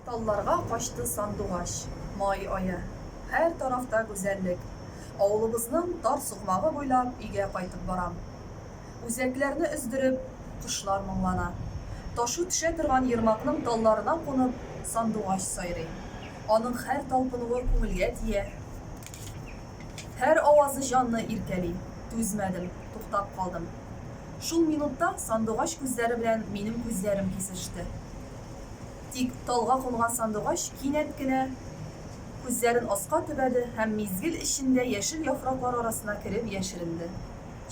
Талларга качты сандугач, май ае. Һәр тарафта гүзәллек. Авылыбызның тар сукмагы буйлап өйгә кайтып барам. Үзәкләрне өздереп, кошлар моңлана. Ташу төшә торган ермакның талларына кунып, сандугач сайрый. Аның һәр талпынуы күңелгә тия. Һәр авазы җанны иркәли. Түзмәдем, туктап калдым. Шул минутта сандугач күзләре белән минем күзләрем кисеште. Тик талга кунган сандугач кинәт кенә күзләрен аска төбәде һәм мизгел эчендә яшел яфраклар арасына кереп яшеренде.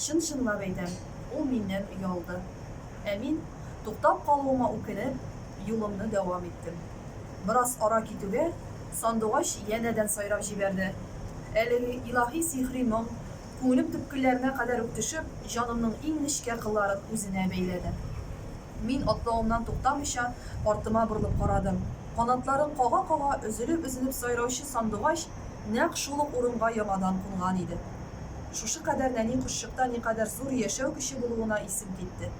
Чын-чынлап әйтәм, ул миннән оялды. Ә мин, туктап калуыма үкенеп, юлымны дәвам иттем. Бераз ара китүгә, сандугач янәдән сайрап җибәрде. Әлеге илаһи-сихри моң күңелем төпкелләренә кадәр үк төшеп, җанымның иң нечкә кылларын үзенә бәйләде. Мин, атлавымнан туктамыйча, артыма борылып карадым. Канатларын кага-кага, өзелеп-өзелеп сайраучы сандугач нәкъ шул ук урынга яңадан кунган иде. Шушы кадәр нәни кошчыкта никадәр зур яшәү көче булуына исем китте.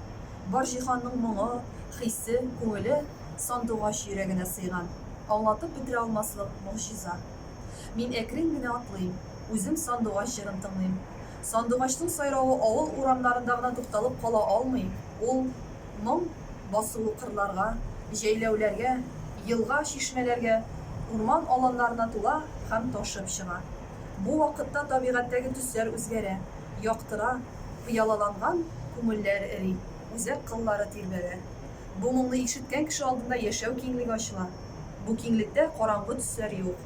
Бар җиһанның моңы, хисе, күңеле сандугач йөрәгенә сыйган. Аңлатып бетерә алмаслык могҗиза. Мин әкрен генә атлыйм. Үзем Сандугач җырын тыңлыйм. Сандугачның сайравы авыл урамнарында гына тукталып кала алмый, ул моң басуы кырларга, җәйләүләргә, елга, чишмәләргә, урман аланнарына тула һәм ташып чыга. Бу вакытта табигатьтәге төсләр үзгәрә, яктыра, пыялаланган күңелләр эри, үзәк кыллары тирбәлә. Бу моңны ишеткән кеше алдында яшәү киңлеге ачыла. Бу киңлектә караңгы төсләр юк.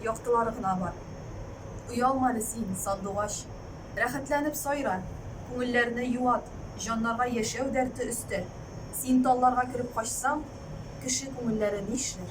яктылары гына бар. Оялма әле син, сандугач. Рәхәтләнеп сайра, күңелләрне юат, җаннарга яшәү дәрте өстә. Син талларга кереп качсаң, кеше күңелләре нишләр?